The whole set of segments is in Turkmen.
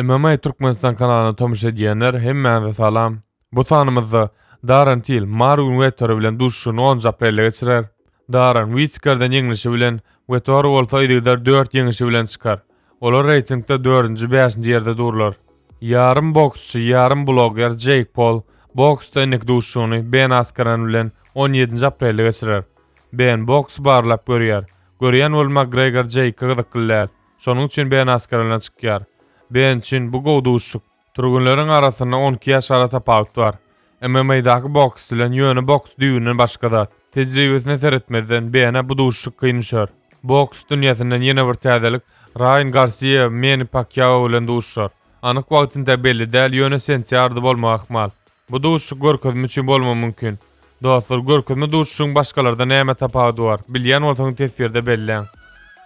MMA Türkmenistan kanalyna tomuş edýänler hemmäňize salam. Bu sanymyzda Darren Till Marwin Wettori bilen duşuşygyny onunjy aprelde geçirer. Darren Witkerden ýeňlişi bilen, Wettori bolsa yzygider dört ýeňişi bilen çykar. Olar reýtingde dördünji, bäşinji ýerde durlar. Ýarym boksçy, ýarym blogger Jeýk Pol boksda indiki duşuşygyny Ben Askren bilen on ýedinji aprelde geçirer. Ben boksy barlap görýär. Görýän bolup Makgregor Jeýka gyzykly däl. Şonuň üçin Ben Askaralyna çykýar. Ben üçin bu gowy duşuşyk. Türgenleriň arasynda on iki ýaş ara tapawut bar. MMA-daky boks bilen ýöne boks düýbünden başga zat. Tejribesine seretmezden, Benä bu duşuşyk kyn düşer. Boks dünýäsinden ýene bir täzelik, Raýan Garsiýa Meni Pakýao bilen duşuşar. Anyk wagty entä belli däl, ýöne sentýarda bolmagy ahmal. Bu duşuşyk görkezme üçin bolmagy mümkin. Dostlar, görkezme duşuşygyň başgalardan näme tapawudy bar? Bilýän bolsaňyz teswirde belläň.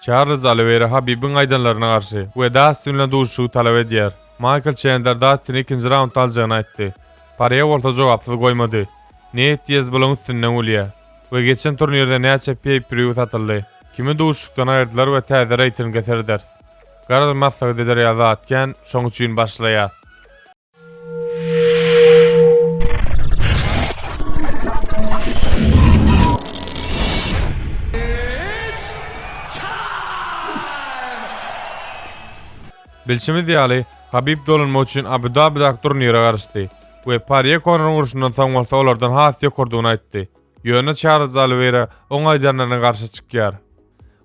Çarlz Oliweýra Habibiň aýdanlaryna garşy we Dastin bilen duşuşygy talap edýär. Maýkl Çendler Dastini ikinji raundda aljagyny aýtdy. Parýe bolsa jogapsyz goýmady. Neýt Diaz bulaň üstünden gülýä. We geçen turnirde näçe peýpirýu satyldy? Kimi duşuşykdan aýyrdylar we täze reýtinge sereders. Garry maslahat eder ýaly zat kän, şoň üçin başlaýas. Bilşimiz ýaly, Habib dolunmak üçin Abu-Dabidaky turnire garaşdy we Parýe Konoryň urşundan soň bolsa olardan has ýokardygyny aýtdy. Ýöne Çarlz Oliweýra oň aýdanlaryna garşy çykýar.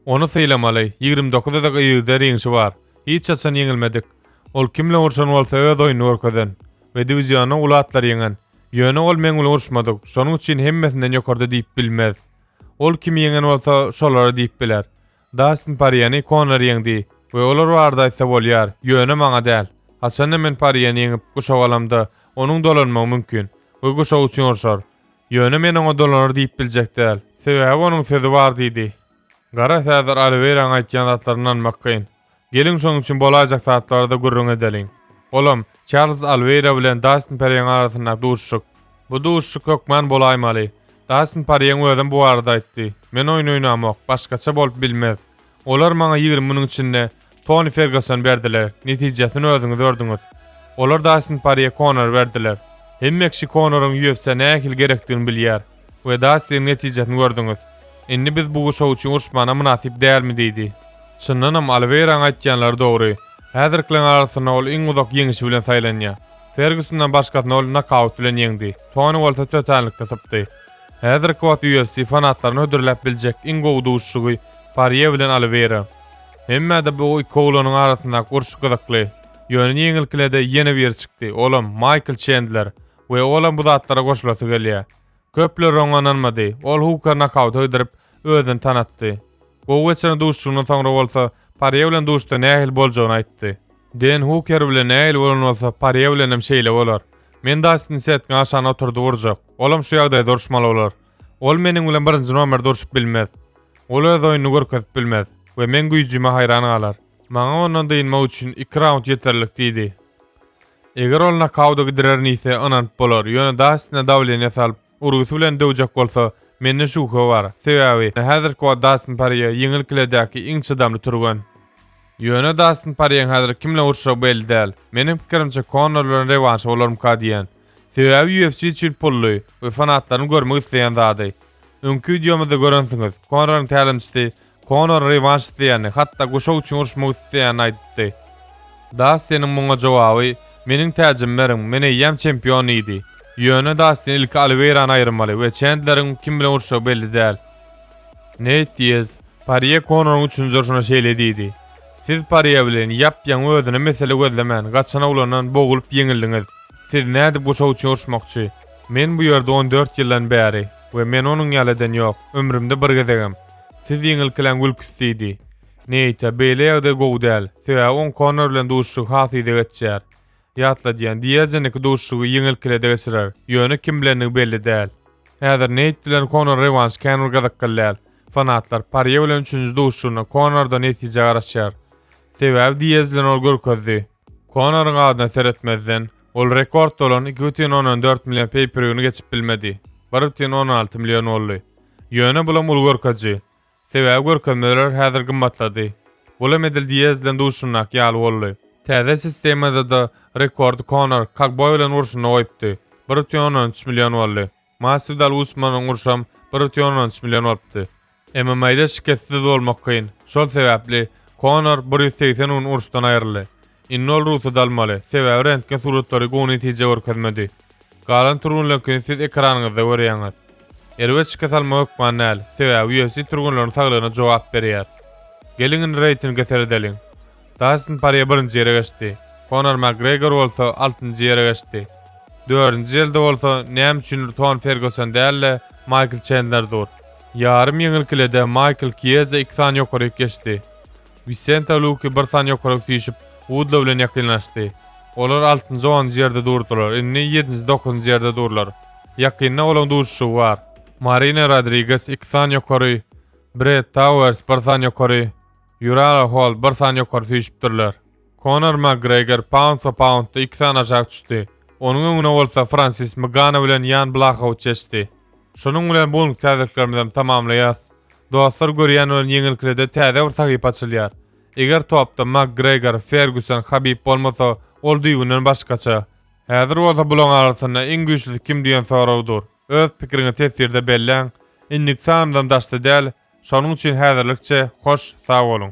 Ony sylamaly, ýigrimi dokuz adak yzgytda ringçi bar. Hiç haçan ýeňilmedik. Ol kim bilen urşan bolsa öz oýuny görkezen we diwizionda uly atlary ýeňen. Ýöne ol meň bilen urşmadyk, şonuň üçin hemmesinden ýokarda diýip bilmez. Ol kimi ýeňen bolsa şolara diýip biler. Dastin Porýeni Konor ýeňdi we olar barada aýtsa bolýar, ýöne maňa däl. Haçanda men Porýeni ýeňip guşak alamda, onuň dolanmagy mümkin we guşak üçin urşar. Ýöne men oňa dolanar diýip biljek däl. Sebäbi onuň sözi bar diýdi. Gara Fedor Oliweýranyň aýtýan zatlaryna ynanmak kyn. Geliň şonuň üçin bolaýjak zatlarda gürrüň edeliň. Olam, Çarlz Alweýra bilen Dastin Porýeň arasyndaky duşuşyk. Bu duşuşyk hökman bolaýmaly. Dastin Porýeň özem bu barada aýtdy, Men oýun oýnamok, başgaça bolup bilmez. Olar maňa ýigrimi müniň içinde Toni Fergusony berdiler, netijesini özüňiz gördüňiz. Olar Dastin Porýe Konor berdiler. Hemme kişi Konoryň UFC-a nähili gerekdigini bilýär. We da siziň netijesini gördüňiz. Indi biz bu guşak üçin uruşmana mynasyp dälmi diýdi. Çyndanam Oliweýraň aýtýanlary dogry. Häzirkileň arasynda ol iň uzak ýeňişi bilen saýlanýa. Fergusondan başgasyny ol nokaut bilen ýeňdi. Toni bolsa tötänlikde sypdy. Häzirki wagt UFC fanatlaryny hödürläp biljek iň gowy duşuşygy Parýe bilen Oliweýra. Hemmä-de bu iki oglanyň arasyndaky urşy gyzykly. Ýöne ýeňilkilede ýene biri çykdy, olam Maýkl Çendler. we olam bu zatlara goşulasy gelýär. Köpler oňa ynanmady. Ol Huka nokaut hödürip, özüni tanatdy. Gowy geçiren duşuşygyndan soňra bolsa, Parýe bilen duşuşda nähili boljagyny aýtdy. Den Huker bilen nähili bolan bolsa, Parýe bilen hem şeýle bolar. Men Dastini setgä aşan oturdy urjak. Olam şu ýagdaýda uruşmaly bolar. Ol meniň bilen birinji nomerde uruşyp bilmez. Ol öz oýnuny görkezip bilmez we meň güýjüme haýran galar. Maňa ondan dynmak üçin iki raund ýeterlik diýdi. Eger ol nokauta gidirerin iýse, ynanyp bolar, ýöne Dastine dawleniýe salyp, urgusy bilen döwjek bolsa, mende şübhe bar, sebäbi häzirki wagt Dastin Porýe ýeňil kiledäki iň çydamly türgen. Ýöne Dastin Porýeň häzir kim bilen uruşjagy belli däl. Meniň pikirimçe, Konor bilen rewanşy bolarmyka diýýän. Sebäbi UFC üçin pully we fanatlaryň görmek isleýän zady. Öňki wideomyzda görensiňiz, Konoryň tälimçisi Konor rewanş isleýänini, hatda guşak üçin uruşmak isleýänini aýdypdy. Dastiniň muňa jogaby, Meniň täjimi beriň, men eýýäm çempion diýdi. Ýöne Dastin ilki Oliweýrany aýyrmaly we Çendleriň kim bilen uruşjagy belli däl. Neýt Diaz, Parýe Konoryň üçünji urşuna şeýle diýdi, Siz Parýe bilen ýap-ýaňy özüne mesele gözlemän, gaçan oglandan boglup ýeňildiňiz. Siz nädip guşak üçin uruşmakçy? Men bu ýerde on dört ýyldan bäri we men onuň ýaly eden ýok, ömrümde bir gezegem. Siz ýeňilkiläň Wilks diýdi. Neýte, beýle ýagdaý gowy däl, sebäbi oň Konor bilen duşuşygy has yza geçýär. Ýatladýan, Diazeniňki duşuşygy ýeňilkilede geçirer, ýöne kim bilendigi belli däl. Häzir Neýt bilen Konor rewanş kän bir gyzykly däl. Fanatlar Parýe bilen üçünji duşuşygynda Konordan netije garaşýar. Sebäbi Diaz bilen ol görkezdi. Konoryň adyna seretmezden, ol rekordda bolan iki bütin ondan dört million peýperýuny geçip bilmedi. Bir bütin ondan alty million boldy. Ýöne bulam uly görkezji. Sebäbi görkezmeler häzir gymmatlady. Bulam edil Diýez bilen duşundak ýaly boldy. Täze sistemada-da rekordy Konor Kagboý bilen urşunda goýupdy. Bir ütün ondan üç million boldy. Maswidal Usmanyň urşam bir ütün ondan üç million bolupdy. MMA-da şikessiz bolmak kyn. Şol sebäpli Konor bir ýüz segsen gün urşdan aýryldy. Indi ol rugsat almaly, sebäbi rentgen suratlary gowy netije görkezmedi. Galan turgunlaryňkyny siz ekranyňyzda görýäňiz. Erbet şike salma hökman däl, sebäbi UFC turgunlaryň saglygyna jogap berýär. Geliň indi reýtinge seredeliň. Dastin Porýe birinji ýere geçdi. Konor Makgregor bolsa altynjy ýere geçdi. Dördünji ýerde bolsa näme üçindir Ton Ferguson däl-de, Maýkl Çendler dur. Ýarym ýeňil kilede Maýkl Kiýeja iki sany ýokaryk geçdi. Wisenta Luki bir san ýokaryk süýşüp, Wudla bilen ýakynlaşdy. Olar altynjy onunjy ýerde durdular, indi ýedinji dokuzynjy ýerde durlar. Ýakynda olaň duşuşygy bar. Marina Rodriges iki san ýokary, Brett Tauers bir san ýokary, Ýurala Holt bir san ýokary süýşüpdirler. Konor Makgregor paundsa paundda iki sany aşak düşdi. Onuň öňüne bolsa Fransis Mgano bilen Ýan Blahowiç geçdi. Şunuň bilen bu günki täzeliklerimizem tamamlaýas. Dostlar görýän bolan ýeňilkilede täze bir sahypa açylýar. Eger topda Makgregor, Ferguson, Habib bolmasa ol düýbünden başgaça. Häzir bolsa bulaň arasynda iň güýçlisi kim diýen sorag dur. Öz pikiriňi teswirde belläň. Indiki sanymyzam daşda däl. Şonuň üçin häzirlikçe hoş sag boluň.